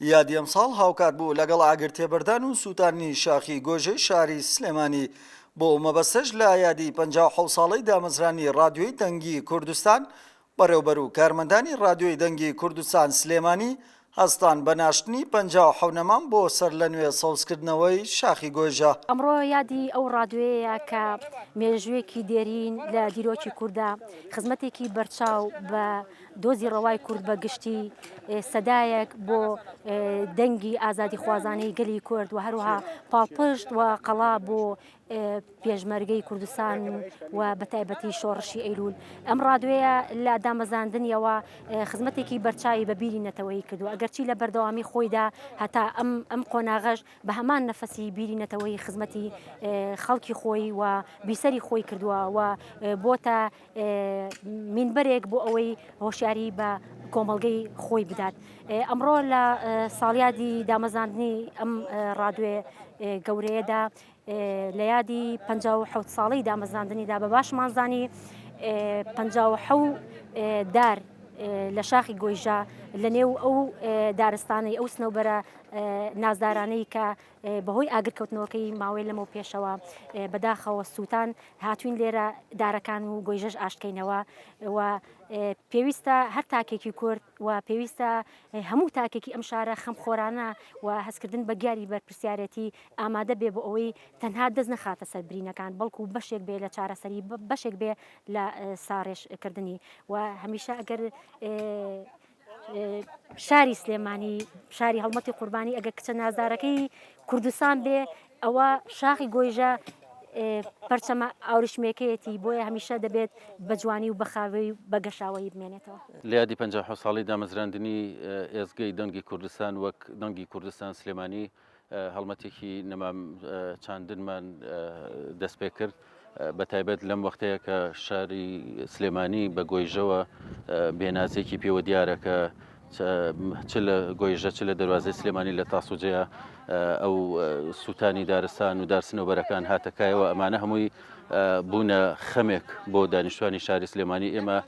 یادی ئەمساڵ هاوکات بوو لەگەڵ ئاگرتێبەردان و سووتاندنی شاخی گۆیژەی شاری سلێمانی، بۆ ئەو مەبەستەش لە یادی پەنجا و حەوت ساڵەی دامەزرانی رادیۆی دەنگی کوردستان، بەڕێوبەر و کارمەندانی رادیۆی دەنگی کوردستان سلێمانی هەستان بە ناشتنی پەنجا و حەوت نەمام بۆ سەرلەنوێ سەوزکردنەوەی شاخی گۆیژە. ئەمڕۆ یادی ئەو رادیۆیەیە کە مێژوویەکی دێرین لە دیرۆکی کوردا، خزمەتێکی بەرچاو بە. دۆزی ڕەوای کورد بە گشتی سەدایەک بۆ دەنگی ئازادیخوازانەی گەلی کورد و هەروها پاڵپشت و قەڵا بۆ پێشمەرگەی کوردستان و بەتایبەتی شۆڕشی ئەیلول ئەم ڕادوێە لە دامەزاندنیەوە خزمەتێکی بەرچاوی بەبیری نەتەوەی کردو ئەگەرچی لە بەردەوامی خۆیدا هەتا ئەم ئەم قۆناغەش بە هەمان نەفەسی بیری نەتەوەی خزمەتی خەڵکی خۆی و بیسەری خۆی کردووە و بۆتە مینبەرێک بۆ ئەوەی هۆشیاری بە کۆمەڵگەی خۆی بدات ئەمڕۆ لە ساڵیادی دامەزاندنی ئەم ڕادوێ گەورەیەدا لە یادی 1970 ساڵی دامەزاندنیدا بە باشمانزانی 1970 دار لە شاخی گۆیژە لە نێو ئەو دارستانی ئەو سنەوبەرە نازدارانەی کە بەهۆی ئاگرکەوتنەوەکەی ماوەی لەمەو پێشەوە بەداخەوە سووتان هاتوین لێرە دارەکان و گۆیژەش ئاشتکەینەوە و پێویستە هەر تاکێکی کورد و پێویستە هەموو تاکێکی ئەم شارە خەم خۆرانە و هەستکردن بە گیاری بەرپرسیارەتی ئامادە بێ بۆ ئەوەی تەنها دەست نەخاتە سەر برینەکان بەڵکو بەشێک بێ لە چارەسەری بەشێک بێ لە ساڕێژکردنی و هەمیشە ئەگەر شاری سلێمانی شاری هەڵمەتی قوربانی ئەگەر کچە نازدارەکەی کوردستان بێ ئەوە شاخی گۆیژە پەرچەمە ئاورشمێکەیەتی بۆیە هەمیشە دەبێت بە جوانی و بەخاوی بە گەشاوەی بمێنێتەوە. لە یادی پەنجا و حەوت ساڵەی دامەزراندنی ئێزگەی دەنگی کوردستان وەک دەنگی کوردستان سلێمانی، هەڵمەتێکی نەمام چاندنمان دەست پێ کرد بە تایبەت لەم وەختەیە کە شاری سلێمانی بە گۆیژەوە بێنازێکی پێوە دیارە کە چ لە گۆیژە چ لە دەواازەی سلێمانی لە تاسوجەیە ئەو سووتانی دارستان و دارسنەوەرەکان هاتەکایەوە ئەمانە هەمووی بوونە خەمێک بۆ دانیشتوانی شاری سلێمانی ئێمە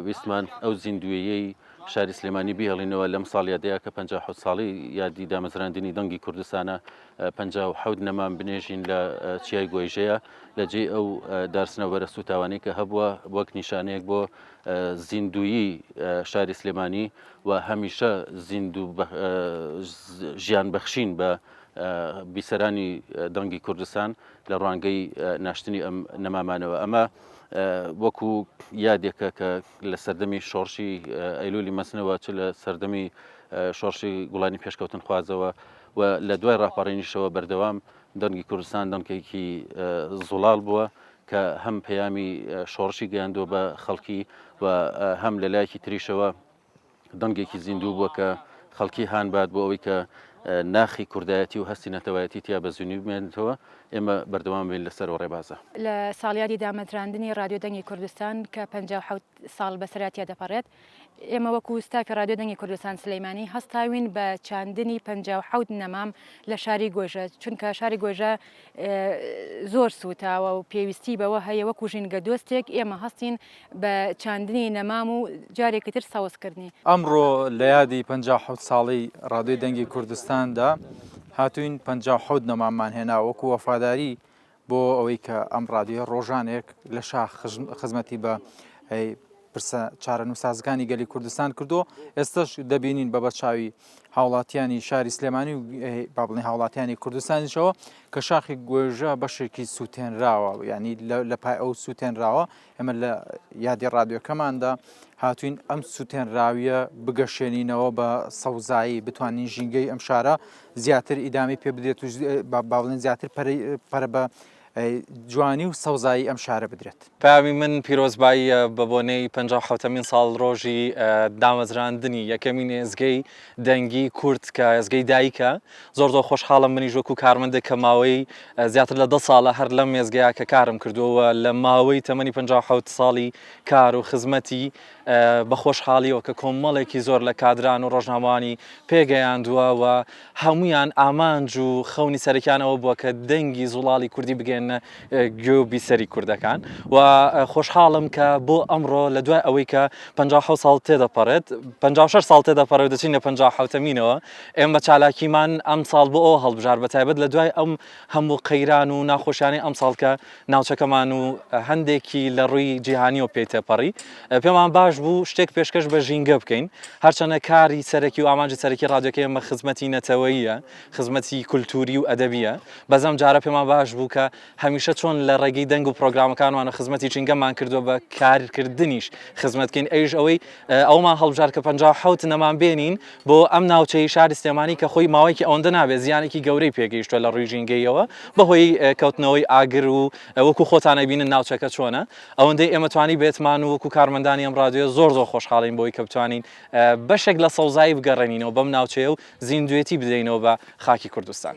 ویستمان ئەو زیندویەی شاری سلێمانی بیهێڵینەوە لەم ساڵ یادەیە کە پەنجا و حەوت ساڵی یادی دامەزراندنی دەنگی کوردستانە پەنجا و حەوت نەمام بنێژین لە چیای گۆیژەیە لە جێ ئەو دارسنە بەرە سوتاوانی کە هەبووە وەک نیشانەیەک بۆ زیندویی شاری سلێمانی و هەمیشە زیندوو ژیان بەخشین بە بیسەرانی دەنگی کوردستان لە ڕوانگەی ناشتنی ئەم نەمامانەوە ئەمە وەکو یادێکە کە لە سەردەمی شۆڕشی ئەیلولی مەسنەوە چ لە سەردەمی شۆڕشی گوڵانی پێشکەوتن خوازەوە و لە دوای ڕاپەڕینیشەوە بەردەوام دەنگی کوردستان دەنگێکی زوڵال بووە کە هەم پەیامی شۆڕشی گەیاندووە بە خەڵکی و هەم لە لایەکی تریشەوە دەنگێکی زیندوو بووە کە خەڵکی هانبات بۆ ئەوەی کە ناخی کوردایەتی و هەستی نەتەوایەتی تیا بە زیینی بمێنێتەوە ئێمە بەردەوام بین لەسەر و ڕێبازە. لە ساڵیادی دامەزراندنی ڕادیۆ دەنگی کوردستان کە پەنجا و حەوت ساڵ بەسەرا تیا دەپەڕێت، ئێمە وەکوو ستافی ڕادیۆ دەنگی کوردستان سلێمانی هەستاوین بە چاندنی پەنجا و حەوت نەمام لە شاری گۆیژە، چونکە شاری گۆیژە زۆر سووتاوە و پێویستی بەوە هەیە وەکو ژینگە دۆستێک ئێمە هەستین بە چاندنی نەمام و جارێکی تر سەوزکردنی. ئەمڕۆ لە یادی پەنجا و حەوت ساڵەی ڕادیۆی دەنگی کوردستاندا هاتووین پەنجا و حەوت نەماممان هێنا وەکو وەفاداری بۆ ئەوەی کە ئەم ڕادیۆیە ڕۆژانێک لە شاخ خزمەتی بە پرسە چارەنووسازەکانی گەلی کوردستان کردو ئێستش دەبینین بە بەرچاوی هاوڵاتیانی شاری سلێمانی و بابڵی هاوڵاتیانی کوردستانیشەوە کە شاخی گۆێژە بەشێکی سووتێنراوە ینی لە پای ئەو سووتێنراوە ئەمە لە یادی ڕادیۆکەماندا هاتوین ئەم سووتێنراویە بگەشێنینەوە بە سەوزایی بتوانین ژینگەی ئەم شارە زیاتر ئیدامی پێ بدێت و باڵێن زیاتر پەرە بە جوانی و سەوزایی ئەم شارە بدرێت. پەیامی من پیرۆزباییە بە بۆنەی پەنجا و حەوتەمین ساڵڕۆژی دامەزراندنی یەکەمین ئێزگەی دەنگی کورد کە ئێزگەی دایکە، زۆر زۆر خۆشحاڵم منیش وەکو کارمەندێک کە ماوەی زیاتر لە دە ساڵە هەر لەم ئێزگەیە کە کارم کردووە و لە ماوەی تەمەنی پەنجا و حەوت ساڵی کار و خزمەتی بە خۆشحاڵیەوە کە کۆمەڵێکی زۆر لە کادران و ڕۆژنامەوانی پێگەیاندووە و هەمویان ئامانج و خەونی سەرەکیان ئەوە بووە کە دەنگی زوڵاڵی کوردی بگەێنە گوێ و بیسەری کوردەکان و خۆشحاڵم کە بۆ ئەمڕۆ لە دوای ئەوەی کە 56 ساڵ تێدەپەڕێت 56 ساڵ تێدەپەڕێت دەچین لە 56 مینەوە ئێمە چالاکیمان ئەم ساڵ بۆ ئەو هەڵبژار بە تایبەت لە دوای ئەم هەموو قەیران و ناخۆشیانەی ئەم ساڵکە ناوچەکەمان و هەندێکی لە ڕووی جیهانیەوە پێی تێپەڕی پێمان باش بوو شتێک پێشکەش بە ژینگە بکەین هەرچەنە کاری سەرەکی و ئامانجی سەرەکی ڕادیۆکە ئێمە خزمەتی نەتەوەیە خزمەتی کولتوری و ئەدەبیە بەزەم جارە پێمان باش بوو کە هەمیشە چۆن لە ڕێگەی دەنگ و پرۆگرامەکانوانە خزمەتی ژینگەمان کردووە بە کارکردنیش خزمەتکەین ئەویش ئەوەی ئەومان هەڵبژار کە 57 نەمان بێنین بۆ ئەم ناوچەی شاری سلێمانی کە خۆی ماوەیەکی ئەوەندە نابێت زیانێکی گەورەی پێگەیشتووە لە ڕووی ژینگەییەوە بەهۆی کەوتنەوەی ئاگر و وەکو خۆتان ئەبینن ناوچەکە چۆنە ئەوەندەی ئێمە توانی بێتمان و وەکو کارمەندانی ئەم ڕادیۆیە زۆر زۆر خۆشحاڵین بۆی کە بتوانین بەشێک لە سەوزایی بگەڕێنینەوە بەم ناوچەیە و زیندوێتی بدەینەوە بە خاکی کوردستان.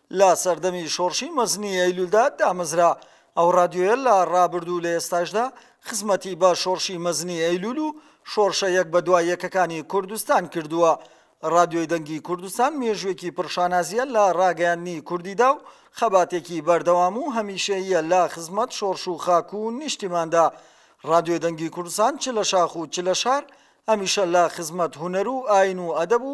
لە سەردەمی شۆڕشی مەزنی ئەیلولدا دامەزرا. ئەو ڕادیۆیە لە ڕابردوو و لە ئێستاشدا خزمەتی بە شۆڕشی مەزنی ئەیلول و شۆڕشە یەک بە دوا یەکەکانی کوردستان کردووە. ڕادیۆی دەنگی کوردستان مێژووێکی پڕ شانازییە لە ڕاگەیاندنی کوردیدا و خەباتێکی بەردەوام و هەمیشەییە لە خزمەت شۆڕش و خاک و نیشتیماندا. ڕادیۆی دەنگی کوردستان چ لە شاخ و چ لە شار هەمیشە لە خزمەت هونەر و ئایین و ئەدەب و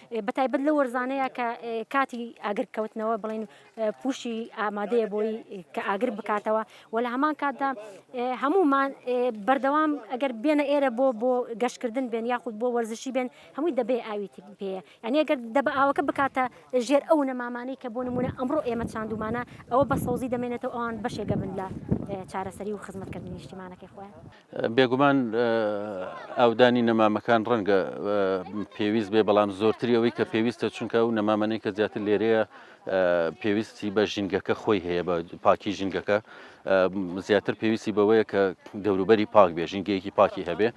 بەتایبەت لەو وەرزانەیە کە کاتی ئاگر کەوتنەوە بڵین پوشی ئامادەیە بۆی کە ئاگر بکاتەوە و لە هەمان کاتدا هەمومان بەردەوام ئەگەر بێنە ئێرە بۆ بۆ گەشتکردن بێن یاخود بۆ وەرزشی بێن هەمووی دەبێ ئاوی پێ یعنی ئەگەر دەبە ئاوەکە بکاتە ژێر ئەو نەمامانەی کە بۆ نمونە ئەمڕۆ ئێمە چاندومانە ئەوە بە سەوزی دەمێنێتەوە ئەوان بەشێگە بن لە چارەسەری و خزمەتکردنی نیشتیمانەکەی خۆیان. بێگومان ئاودانی نەمامەکان ڕەنگە پێویست بێ بەڵام زۆرتری ئەوەی کە پێویستە چونکە و نەمامەەی کە زیاتر لێرەیە پێویستی بە ژینگەکە خۆی هەیە بە پاکی ژینگەکە زیاتر پێویستی بەوەیە کە دەوروبەری پاک بێ ژینگەیەکی پاکی هەبێ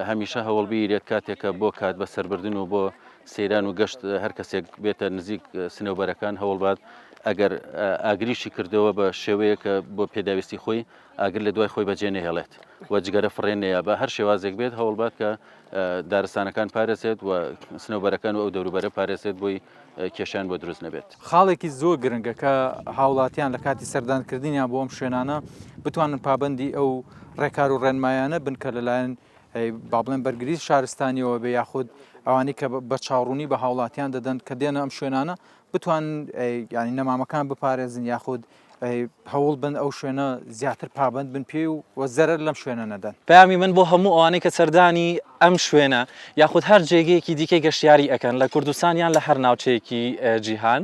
هەمیشە هەوڵبیرێت کاتێکە بۆ کات بە سربردن و بۆ سەیران و گەشت هەر کەسێک بێتە نزیک سنەوبەرەکان هەوڵبات ئەگەر ئاگریشی کردەوە بە شێوەیەکە بۆ پێداویستی خۆی ئاگر لە دوای خۆی بەجێ نەهێڵێت و جگەرە فڕێ نەیە بە هەر شێوازێک بێت هەوڵبات کە دارستانەکان پارێزێت و سنەوبەرەکان و ئەو دەوروبەرە پارێزێت بۆی کێشان بۆ دروست نەبێت خاڵێکی زۆر گرنگە کە هاوڵاتیان لە کاتی سەردانکردنیان بۆ ئەم شوێنانە بتوانن پابندی ئەو ڕێکار و ڕێنمایانە بنکە لەلایەن با بڵێن بەرگری شارستانیەوە بە یاخود ئەوانی کە بە چاڕوونی بە هاوڵاتیان دەدەن کە دێنە ئەم شوێنانە بتوان ینی نەمامەکان بپارێزن یاخود هەوڵ بن ئەو شوێنە زیاتر پابند بن پێ و وە زەرەر لەم شوێنە نەدەن پامی من بۆ هەموو ئەوانەی کە سەردانی ئەم شوێنە یاخود هەر جێگەیەکی دیکەی گەشتیاری ئەەکەن لە کوردستان یان لە هەر ناوچەیەکی جیهان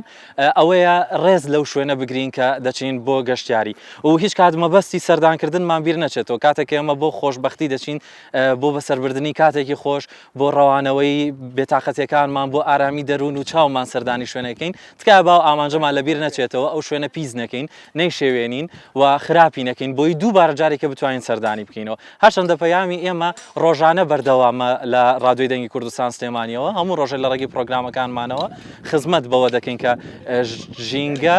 ئەوەیە ڕێز لەو شوێنە بگرین کە دەچین بۆ گەشتیاری و هیچ کات مەبەستی سەردانکردنمان بیر نەچێتەوە کاتێک ئێمە بۆ خۆشببختی دەچین بۆ بەسەربردننی کاتێکی خۆش بۆ ڕەوانەوەی بێتاقەتیەکانمان بۆ ئارامی دەروون و چاومان سەردانی شوێنەکەین تکایە باو ئامانجەمان لەبیر نەچێتەوە ئەو شوێنە پیس نەکەین نەیشێوێنین و خراپی نەکەین بۆی دووبارە جارێکە بتوانین سەردانی بکەینەوە هەرچەندە پەیامی ئێمە ڕۆژانە بەردەوامە لە ڕادوی دەنگی کوردستان سلێمانیەوە هەموو ڕۆژە لە ڕێگەی پرۆگرامەکانمانەوە خزمەت بەوە دەکەین کە ژینگە